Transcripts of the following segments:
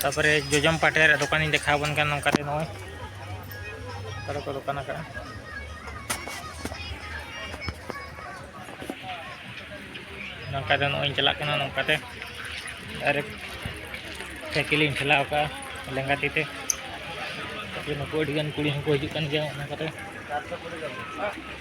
ᱛᱟᱯᱚᱨᱮ ᱡᱚᱡᱚᱢ ᱯᱟᱴᱮ ᱨᱮ ᱫᱚᱠᱟᱱᱤᱧ ᱫᱮᱠᱷᱟᱣ ᱵᱚᱱ ᱠᱟᱱ ᱱᱚᱝᱠᱟ ᱨᱮ ᱱᱚᱜᱼᱚᱭ ᱚᱠᱟᱨᱮ ᱠᱚ ᱫᱚᱠᱟᱱ ᱟᱠᱟᱫᱼᱟ ᱱᱚᱝᱠᱟ ᱫᱚ ᱱᱚᱜᱼᱚᱭ ᱪᱟᱞᱟᱜ ᱠᱟᱱᱟ ᱱᱚᱝᱠᱟ ᱛᱮ ᱰᱟᱭᱨᱮᱠᱴ ᱥᱟᱭᱠᱮᱞᱤᱧ ᱴᱷᱮᱞᱟᱣ ᱠᱟᱜᱼᱟ ᱞᱮᱸᱜᱟ ᱛᱤ ᱛᱮ ᱱᱩᱠᱩ ᱟᱹᱰᱤᱜᱟᱱ ᱠᱩᱲᱤ ᱦᱚᱸᱠᱚ ᱦᱤᱡᱩᱜ ᱠᱟᱱ ᱜᱮᱭᱟ ᱚᱱᱟ ᱠᱚᱨᱮ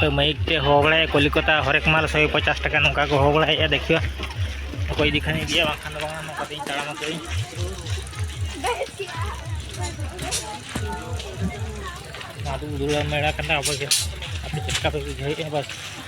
ᱛᱚ ᱢᱟᱹᱭᱤᱠ ᱛᱮ ᱦᱚᱦᱚ ᱵᱟᱲᱟᱭᱟ ᱠᱚᱞᱤᱠᱚᱛᱟ ᱦᱚᱨᱮᱠ ᱢᱟᱞ ᱥᱚᱭ ᱯᱚᱪᱟᱥ ᱴᱟᱠᱟ ᱱᱚᱝᱠᱟ ᱠᱚ ᱦᱚᱦᱚ ᱵᱟᱲᱟᱭᱮᱫᱼᱟ ᱫᱮᱠᱷᱤᱭᱟ ᱚᱠᱚᱭ ᱤᱫᱤ ᱠᱷᱟᱱ ᱤᱫᱤᱭᱟ ᱵᱟᱝᱠᱷᱟᱱ ᱫᱚ ᱵᱟᱝᱟ ᱱᱚᱝᱠᱟ ᱛᱮᱧ ᱛᱟᱲᱟᱢ ᱟᱠᱟᱫᱟᱹᱧ ᱟᱫᱚ ᱫᱩᱲᱩᱵ ᱢᱮᱲᱟ ᱠᱟᱱᱟ ᱟᱵᱚ ᱪᱮᱫ ᱞᱮᱠᱟ ᱯᱮ ᱵᱩᱡᱷᱟᱹᱣᱮᱫᱼᱟ ᱵᱟᱥ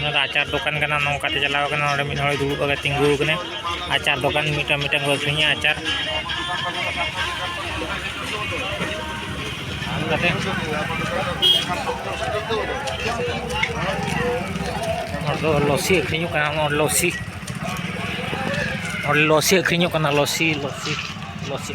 ᱱᱚᱣᱟ ᱫᱚ ᱟᱪᱟᱨ ᱫᱚᱠᱟᱱ ᱠᱟᱱᱟ ᱱᱚᱝᱠᱟᱛᱮ ᱪᱟᱞᱟᱣ ᱠᱟᱱᱟ ᱱᱚᱰᱮ ᱢᱤᱫ ᱦᱚᱲᱮ ᱫᱩᱲᱩᱵ ᱠᱟᱛᱮ ᱛᱤᱸᱜᱩ ᱟᱠᱟᱱᱟᱭ ᱟᱪᱟᱨ ᱫᱚᱠᱟᱱ ᱢᱤᱫᱴᱟᱝ ᱢᱤᱫᱴᱟᱝ ᱠᱚ ᱟᱹᱠᱷᱨᱤᱧᱟ ᱟᱪᱟᱨ ᱠᱟᱛᱮ ᱦᱚᱲ ᱫᱚ ᱞᱚᱥᱤ ᱟᱹᱠᱷᱨᱤᱧᱚᱜ ᱠᱟᱱᱟ ᱱᱚᱣᱟ ᱞᱚᱥᱤ ᱦᱚᱲ ᱞᱚᱥᱤ ᱟᱹᱠᱷᱨᱤᱧᱚᱜ ᱠᱟᱱᱟ ᱞᱚᱥᱤ ᱞᱚᱥᱤ ᱞᱚᱥᱤ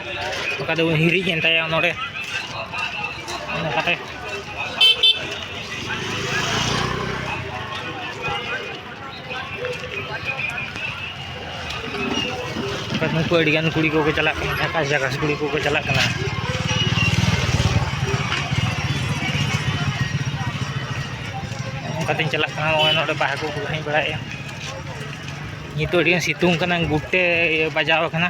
ᱚᱠᱟ ᱫᱚ ᱦᱤᱨᱤᱡ ᱮᱱ ᱛᱟᱭᱟ ᱱᱚᱰᱮ ᱚᱱᱠᱟᱛᱮ ᱱᱩᱠᱩ ᱟᱹᱰᱤᱜᱟᱱ ᱠᱩᱲᱤ ᱠᱚᱠᱚ ᱪᱟᱞᱟᱜ ᱠᱟᱱᱟ ᱡᱷᱟᱠᱟᱥ ᱡᱷᱟᱠᱟᱥ ᱠᱩᱲᱤ ᱠᱚᱠᱚ ᱪᱟᱞᱟᱜ ᱠᱟᱱᱟ ᱚᱱᱠᱟᱛᱮᱧ ᱪᱟᱞᱟᱜ ᱠᱟᱱᱟ ᱱᱚᱜᱼᱚᱭ ᱱᱚᱰᱮ ᱵᱟᱦᱟ ᱠᱚᱠᱚ ᱮᱱᱮᱡ ᱵᱟᱲᱟᱭᱮᱫᱼᱟ ᱱᱤᱛᱚᱜ ᱟᱹᱰᱤᱜᱟᱱ ᱥᱤᱛᱩᱝ ᱠᱟᱱᱟ ᱜᱩᱴᱮ ᱵᱟᱡᱟᱣ ᱠᱟᱱᱟ